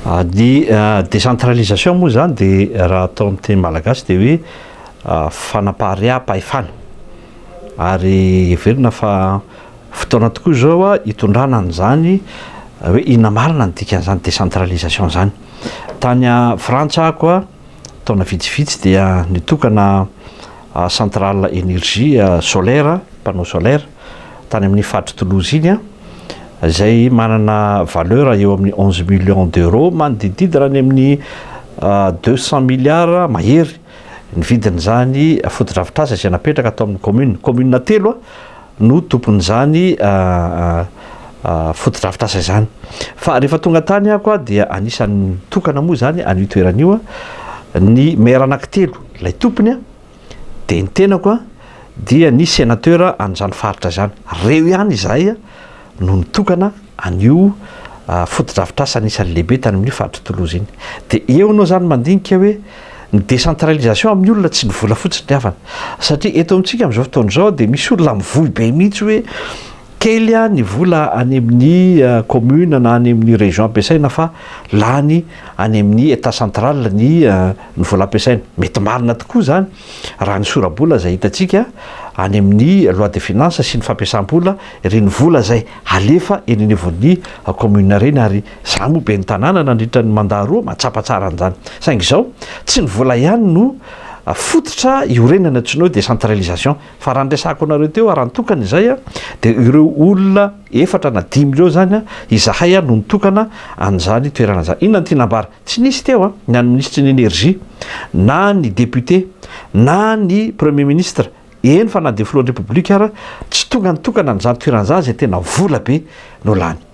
Ny décentralisation moa izany dia raha atao amin'ny teny malagasy dia hoe fanapahareaham-pahefana ary heverina fa fotoana tokoa izao hitondrana an'izany hoe inona marina ny dikan'izany décentralisation izany. Tany Frantsa aho koa taona vitsivitsy dia nitokana centrale energie solaire, panneau solaire, tany amin'ny faritry Toulouse iny an, izay manana valeur eo amin'ny onze millions d'euros, manodididina any amin'ny deux cent milliards mahery ny vidin'izany fotodrafitrasa izay napetraka tao amin'ny commune, commune telo no tompon'izany fotodrafitrasa izany. Fa rehefa tonga tany aho koa dia anisan'ny nitokana moa izany an'io toerana io ny maire anankitelo ilay tompony dia ny tenako dia ny senateur an'izany faritra izany. Ireo ihany izahay. no nitokana an'io fotodrafitrasa anisan'ny lehibe tany amin'io faritry Toulouse iny. Dia eo ianao izany mandinika hoe ny décentralisation amin'ny olona tsy ny vola fotsiny ny havany. Satria eto amintsika amin'izao fotoana izao dia misy olona mivoy be mihitsy hoe kely ny vola any amin'ny commune na any amin'ny région ampiasaina fa lany any amin'ny état central ny vola ampiasaina. Mety marina tokoa izany. Raha ny sora-bola izay hitantsika any amin'ny loi de finances sy ny fampiasam-bola, ireny vola izay halefa eny anivon'ny commune ireny ary izaho moa ben'ny tanàna nandritra ny mandat roa mahatsapa tsara an'izany. Saingy izao, tsy ny vola ihany no fototra iorenana tsy noho décentralisation fa raha ny resahako anareo teo raha nitokana izay dia ireo olona efatra na dimy ireo izany izahay no nitokana an'izany toerana izany. Inona no tiana ambara? Tsy nisy teo ny an'ny minisitry ny Energie, na ny député, na ny Premier ministre, eny fa na dia filohan'ny Repoblika ara tsy tonga nitokana an'izany toerana izany izay tena vola be no lany.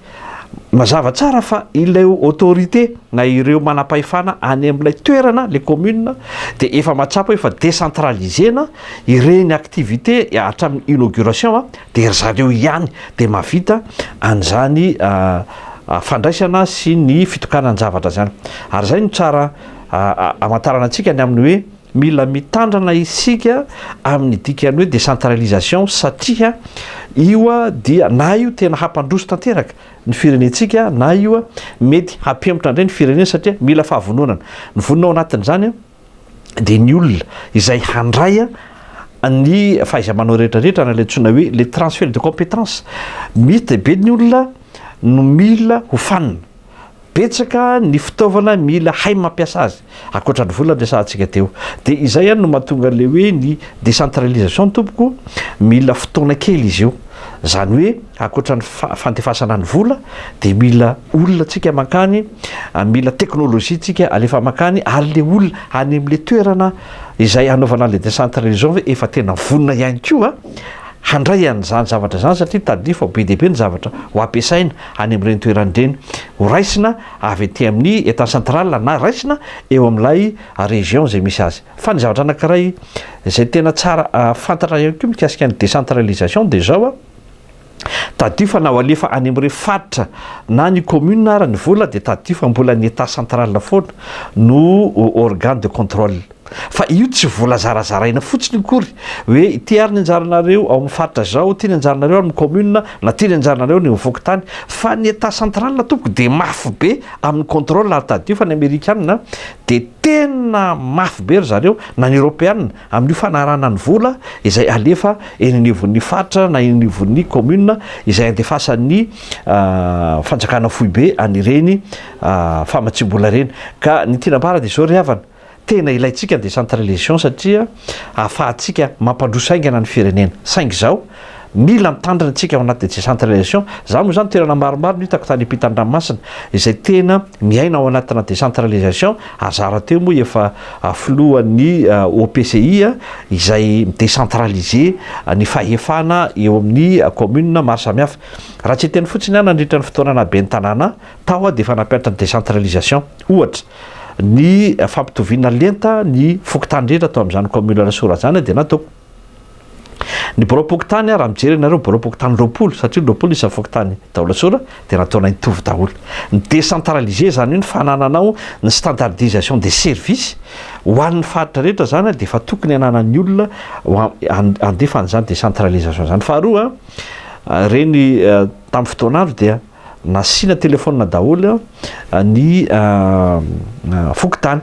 Mazava tsara fa ilay autorité na ireo manam-pahefana any amin'ilay toerana, ilay commune, dia efa mahatsapa hoe efa décentralisena ireny activité hatramin'ny inauguration dia ry zareo ihany dia mahavita an'izany fandraisana sy ny fitokanan-javatra izany. Ary izay no tsara hamantarana antsika ny amin'ny hoe mila mitandrina isika amin'ny dikan'ny hoe décentralisation satria io dia na io tena hampandroso tanteraka ny firenentsika na io mety hampihemotra indray ny firenena satria mila fahavononana. Ny vonona ao anatin'izany dia ny olona izay handray ny fahaiza-manao rehetra rehetra na ilay antsoina hoe le transfert de compétence misy dia be ny olona no mila ho fanina betsaka ny fitaovana mila hay mampiasa azy akoatra ny vola resahantsika teo dia izay any no mahatonga le hoe ny décentralisation tompoko mila fotoana kely izy io izany hoe Ankoatra ny fandefasana ny vola dia mila olona tsika mankany, mila teknolojia tsika alefa mankany ary le olona any amin'le toerana izay hanaovana an'le décentralisation ve efa tena vonona ihany koa handray an'izany zavatra izany satria tadidio fa be dia be ny zavatra ho ampiasaina any amin'ireny toerana ireny ho raisina avy aty amin'ny état central na raisina eo amin'ilay région izay misy azy. Fa ny zavatra anankiray izay tena tsara fantatra ihany koa mikasika ny décentralisation dia izao, Tadidio fa na ho alefa any amin'ireo faritra na ny commune ara ny vola dia tadidio fa mbola ny Etat central foana no organe de contrôle. Fa io tsy vola zarazaraina fotsiny akory hoe ity ary ny anjaranareo ao amin'ny faritra izao, ity ny anjaranareo ao amin'ny commune na ity ny anjaranareo any amin'ny fokontany fa ny Etat central tompoko dia mafy be amin'ny contrôle ary tadidio fa ny Amerikanina dia tena mafy be ry zareo na ny Eropeanina Amin'io fanarahana ny vola izay alefa eny anivon'ny faritra na eny anivon'ny kaominina izay andefasan'ny fanjakana foibe an'ireny famatsiam-bola ireny. Ka ny tiana ambara dia izao ry havana, tena ilaintsika ny décentralisation satria ahafahantsika mampandroso haingana ny firenena. Saingy izao, Mila mitandrina isika ao anaty décentralisation. Za moa zany toerana maromaro no hitako tany ampitandranomasina izay tena miaina ao anatina décentralisation, ary za rahateo moa efa filohan'ny OPCI izay mi-décentralise ny fahefana eo amin'ny commune maro samihafa. Raha tsy hiteny fotsiny aho nandritra ny fotoana naha ben'ny tanàna tao aho dia efa nampianatra ny décentralisation ohatra ny fampitoviana lenta ny fokontany rehetra tao amin'izany commune Rasoa Rajany dia nataoko. Ny biraom-pokontany ary raha mijery ianareo ny biraom-pokontany roapolo, satria ny roapolo isan'ny fokontany Daolasora, dia nataonay nitovy daholo. Mi-décentraliser izany hoe ny fanananao ny standardisation des services ho an'ny faritra rehetra izany dia efa tokony hananan'ny olona handefa an'izany décentralisation izany. Faharoa, ireny tamin'ny fotoana andro dia nasiana téléphone daholo ny fokontany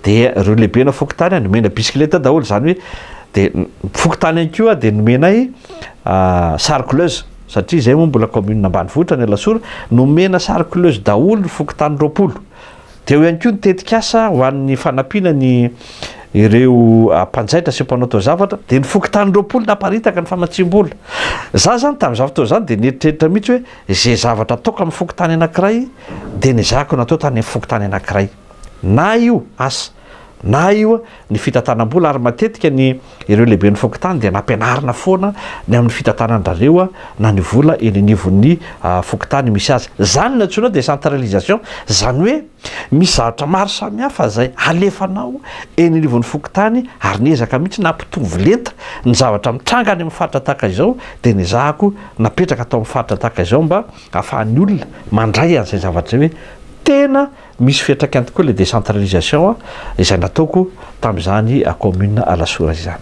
Dia ireo lehibe na fokontany nomena bisikileta daholo izany hoe dia fokontany ihany koa dia nomenay sary couleuses satria izay moa mbola commune ambanivohitra ny Alasora nomena sary couleuses daholo ny fokontany roapolo dia eo ihany koa ny tetikasa ho an'ny fanampiana ny ireo mpanjaitra sy mpanao taozavatra dia ny fokontany roapolo naparitaka ny famatsiam-bola za zany tamin'izany fotoana izany dia nieritreritra mihitsy hoe izay zavatra ataoko amin'ny fokontany anankiray dia ny zako natao tany amin'ny fokontany anankiray na io asa na io ny fitantanam-bola ary matetika ny ireo lehiben'ny fokontany dia nampianarina foana ny amin'ny fitantanan-dRareo na ny vola eny anivon'ny fokontany misy azy. Izany no antsoina hoe décentralisation, izany hoe misy zavatra maro samihafa izay alefanao eny anivon'ny fokontany ary niezaka mihitsy na hampitovy lenta ny zavatra mitranga any amin'ny faritra tahaka izao dia nezahako napetraka tao amin'ny faritra tahaka izao mba ahafahan'ny olona mandray an'izay zavatra izay hoe tena Misy fiantraikany tokoa ilay décentralisation izay nataoko tamin'izany commune Alasora izany.